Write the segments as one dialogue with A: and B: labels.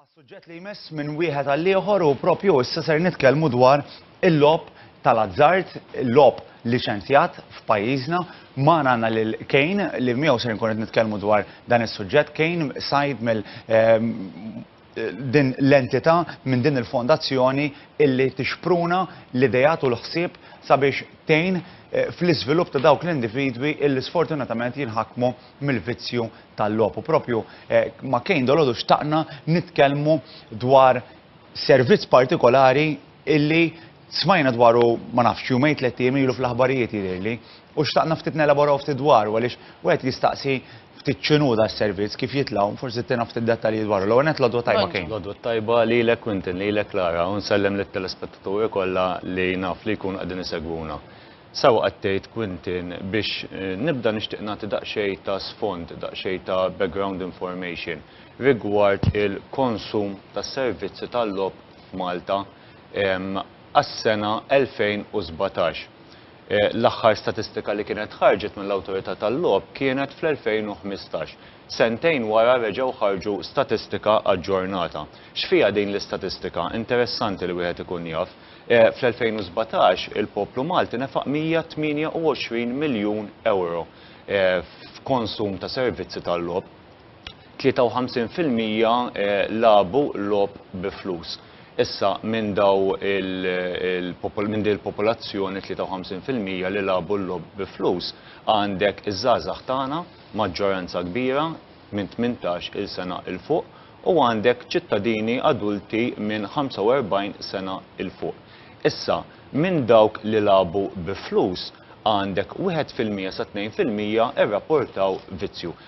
A: Għas-suġġett li jmiss minn wieħed għall-ieħor u propju issa ser nitkellmu dwar il-logħob tal-azzard, il-logħob liċenzjat f'pajjiżna, ma għandna lil Kane li miegħu ser nkun qed nitkellmu dwar dan is-suġġett. Kane sajd mill ehm, din l-entità, minn din il-fondazzjoni illi tixpruna l-ideat u l-ħsieb sabiex tgħin fl-iżvilupp ta' dawk l-individwi illi sfortunatament jinħakmu mill-vizzju tal-logħob. U proprju ma' Kane dalodu xtaqna nitkellmu dwar servizz partikolari illi Smajna dwaru ma nafx jumejn tlett ijiem ilu fl-aħbarijiet jidhirli, u xtaqna ftit nelaboraw ftit dwaru għaliex wieħed jistaqsi ftit x'inhu das-servizz, kif jitlgħu, forsi ttina ftit dettalji dwaru. L-ewwel nett l-għodwa tajba Kane. L-għodwa tajba lilek
B: Quintin, lilek Lara u nsellem lit-telespettaturi kollha li naf li jkunu qegħdin isegwuna. Sewwa qed tgħid Quintin, biex nibda nixtieq nagħti daqsxejn ta' sfond, daqsxejn ta' background information rigward il-konsum tas-servizzi tal-logħob f'Malta għas-sena 2017. L-aħħar statistika li kienet ħarġet mill-Awtorità tal-Logħob kienet fl-2015. Sentejn wara reġgħu ħarġu statistika aġġornata. X'fiha din l-istatistika? Interessanti li wieħed ikun jaf. Fl-2017 il-poplu Malti nefaq 128 miljun ewro f'konsum ta' servizzi tal-logħob. 53 fil-mija lagħbu logħob bi flus. Issa minn daw minn din il-popolazzjoni 53 fil-mija li lagħbu l-logħob bi flus għandek iż-żgħażagħ tagħna, maġġoranza kbira minn 18 il sena 'l fuq, u għandek ċittadini adulti minn 45 sena 'l fuq. Issa minn dawk li lagħbu bi flus għandek wieħed fil-mija sa tnejn fil-mija rrapportaw vizzju.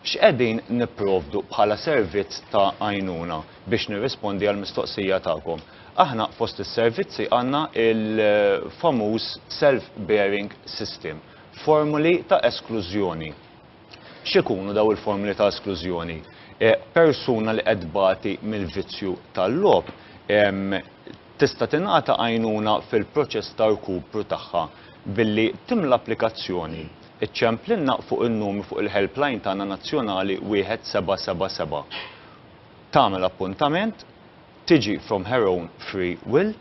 B: X'qegħdin nipprovdu bħala servizz ta' għajnuna biex nirrispondi għall-mistoqsija tagħkom? Aħna fost is-servizzi għandna l-famuż self bearing system, formoli ta' esklużjoni. X'ikunu dawn il-formoli ta' esklużjoni? Persuna li qed tbati mill-vizzju tal-logħob Tista' tingħata għajnuna fil-proċess ta' rkupru tagħha billi timla applikazzjoni. Iċċemplilna fuq in-numru fuq il-helpline tagħna nazzjonali 1777. Tagħmel appuntament, tiġi from her own free will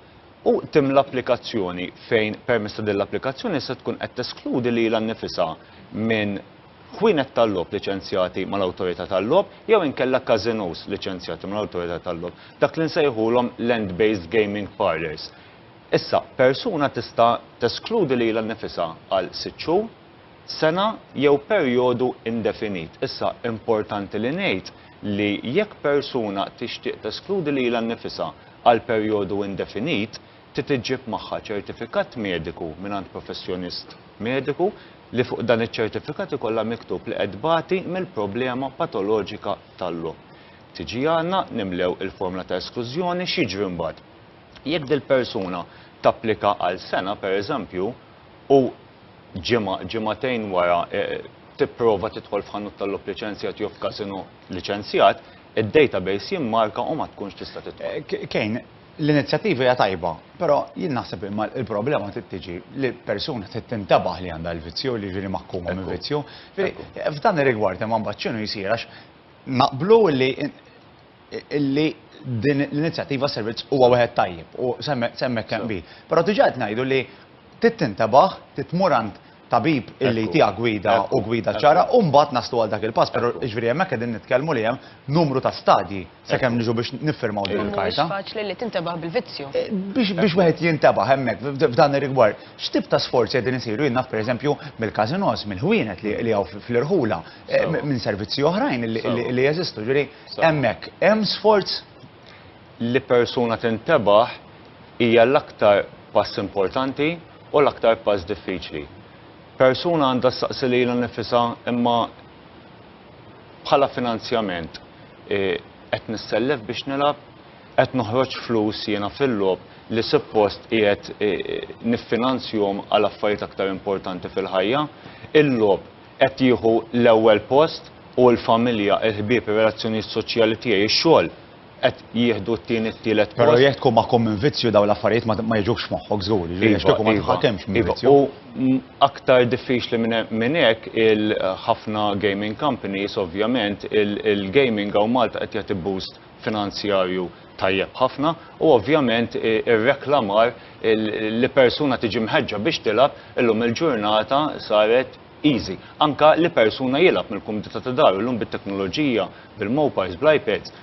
B: u timla applikazzjoni fejn permezz ta' din l-applikazzjoni se tkun qed teskludi lilha nnifisha minn ħwienet tal-logħob liċenzjati mal-Awtorità tal-Logħob jew inkella każinòs liċenzjati mal-Awtorità tal-Logħob, dak li nsejħulhom land-based gaming parlours. Issa, persuna tista' teskludi lilha nnifisha għal sitt xhur, sena jew perjodu indefinit. Issa, importanti li ngħid li jekk persuna tixtieq teskludi lilha nnifisha għal perjodu indefinit, trid iġġib magħha ċertifikat mediku mingħand professjonist mediku li fuq dan iċ-ċertifikat ikollha miktub li qed tbati mill-problema patoloġika tal-lo. Tiġi għandna, nimlew il-formla ta' esklużjoni, x'jiġri mbagħad? Jekk dil-persuna tapplika għal sena, pereżempju, u ġimgħa, ġimgħatejn wara e, tipprova tidħol f'ħanut tal-lob liċenzjat jew f'kasino liċenzjat, id-database jimmarka u ma tkunx tista' tidħol. Eh, Kejn,
A: L-inizjattiva hija tajba, però jien naħseb imma il-problema trid tiġi li persuna trid tintabaħ li għandha l-vizzju li jiġri maħkuma minn vizzju. F'dan ir-rigward imma mbagħad x'inhu jsir għax naqblu li illi din l-inizjattiva servizz huwa wieħed tajjeb u semmek kemm bi. Però diġà qed ngħidu li trid tintabaħ, trid tmur għand tabib illi jtiegħek gwida u gwida ċara u mbagħad naslu għal dak il-pass, però jiġifieri hemmhekk qegħdin nitkellmu li hemm numru ta' stadji sakemm niġu biex niffirmaw din il-karta. Mhuwiex faċli li tintebaħ
C: bil-vizzju. Eh, biex wieħed
A: jintebaħ hemmhekk f'dan ir-rigward, x'tip ta' sforzi qegħdin isiru jien naf pereżempju mill-każinos, mill-ħwienet li hawn fl-irħula, eh, minn servizzi oħrajn li jeżistu, ġifieri hemmhekk hemm sforz li
B: persuna tintebaħ hija l-aktar pass importanti u l-aktar pass diffiċli. Persuna għandha ssaqsi lilha nnifisha imma bħala finanzjament qed nissellef biex nilgħab, qed noħroġ flus jiena fil-logħob li suppost qiegħed niffinanzjhom għal affarijiet aktar importanti fil-ħajja. Il-logħob qed jieħu l-ewwel post u l-familja, il-ħbieb, ir-relazzjonijiet soċjali tiegħi, ix-xogħol. qed jieħdu t-tieni t-tielet post. Però jekk tkun maħkum minn
A: vizzju dawn l-affarijiet ma jiġux f'moħħok żgur, jiġifieri għax kieku ma iva, tħakemx minn iva, vizzju. U aktar
B: diffiċli minn hekk il-ħafna gaming companies ovvjament il-gaming hawn Malta qed jagħti boost finanzjarju tajjeb ħafna u ovvjament ir-reklamar li persuna tiġi mħeġġa biex tilgħab illum il-ġurnata saret easy. Anke li persuna jilgħab mill-kumdità ta' daru llum bit-teknoloġija, bil-mobiles, bl-iPads,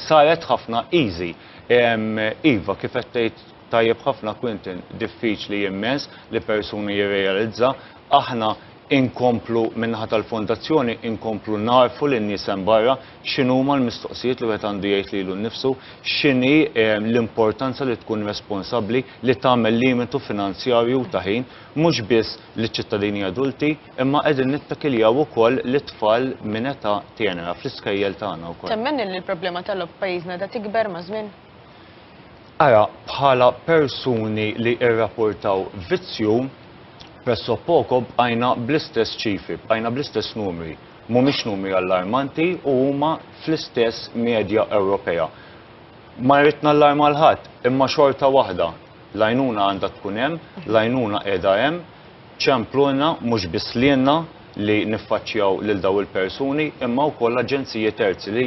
B: saret ħafna easy. Iva, kif qed tgħid tajjeb ħafna Quintin, diffiċli immens li persuna jirrealizza. Aħna inkomplu min-naħa tal-Fondazzjoni inkomplu ngħarrfu lin-nies hemm barra x'inhuma l-mistoqsijiet li wieħed għandu jgħid lilu nnifsu, x'inhi l-importanza li tkun responsabbli, li tagħmel limitu finanzjarju u ta' ħin, mhux biss liċ-ċittadini adulti, imma qegħdin nittakiljaw ukoll lit-tfal minn età tenera fl-iskejjel tagħna wkoll. Temmen li l-problema
C: tal-logħob f'pajjiżna qiegħda tikber maż-żmien?
B: Ara, bħala persuni li irrapportaw vizzju, presso poco bqajna bl-istess ċifri, bqajna bl-istess numri. Mhumiex numri allarmanti u huma fl-istess medja Ewropea. Ma rrid nallarma l-ħadd, imma xorta waħda L-għajnuna għandha tkun hemm, l-għajnuna qiegħda hemm, ċemplulna mhux biss lilna li niffaċċjaw lil dawn il-persuni imma wkoll aġenziji terzi li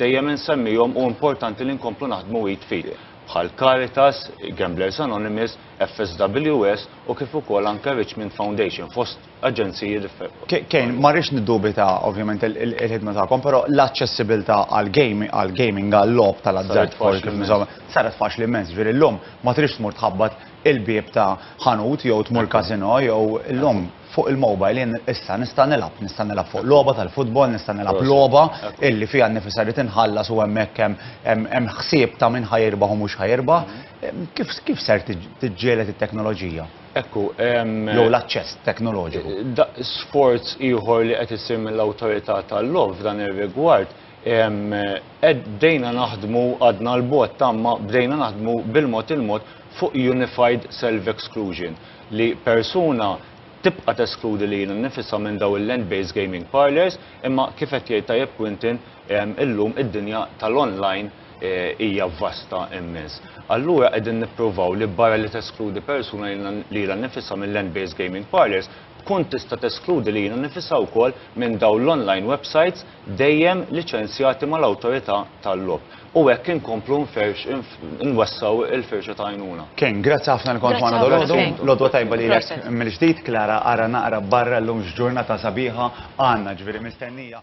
B: dejjem insemmihom u importanti li nkomplu naħdmu id f'id bħal Caritas, Gamblers Anonymous, FSWS u kif ukoll anke Richmond Foundation fost aġenziji differenti. Kane, ma rridx
A: niddubita ovvjament il-ħidma tagħkom, però l-aċċessibilità għall-gaming għal-logħob tal-azzard faċli insomma, saret faċli immens, ġifieri llum ma tridx tmur tħabbat il-bieb ta' ħanut jew tmur każinò jew illum fuq il-mobile jien issa nista' nilgħab, nista' nilgħab fuq logħba tal-futbol, nista' nilgħab logħba illi fiha nnifisha li tinħallas u hemmhekk hemm ħsieb ta' min ħa jirbaħ u mhux ħa jirbaħ. Kif ser tiġġieled it-teknoloġija? Ekku, hemm.
B: Jew l-aċċess
A: teknoloġiku. Da sforz
B: ieħor li qed isir mill-Awtorità tal-Logħob f'dan ir-rigward bdejna naħdmu għadna l-bogħod tamma bdejna naħdmu bil-mod il-mod fuq unified self exclusion li persuna tibqa' teskludi lilha nnifisha minn daw il-land based gaming parlours imma kif qed jgħid tajjeb Quintin illum id-dinja tal-online hija vasta immens. Allura qegħdin nippruvaw li barra li teskludi persuna lilha nnifisha mill-land-based gaming parlors, tkun tista' teskludi lilha nnifisha wkoll minn dawn l-online websites dejjem liċenzjati mal-Awtorità tal-Logħob. U hekk inkomplu nferx, nwessgħu l-firxa ta' għajnuna. Ken, grazzi ħafna li kont
A: magħna dalodu. L-għodwa tajba lilek mill-ġdid. Klara, ara naqra barra llum x'ġurnata sabiħa għandna, ġifieri mistennija.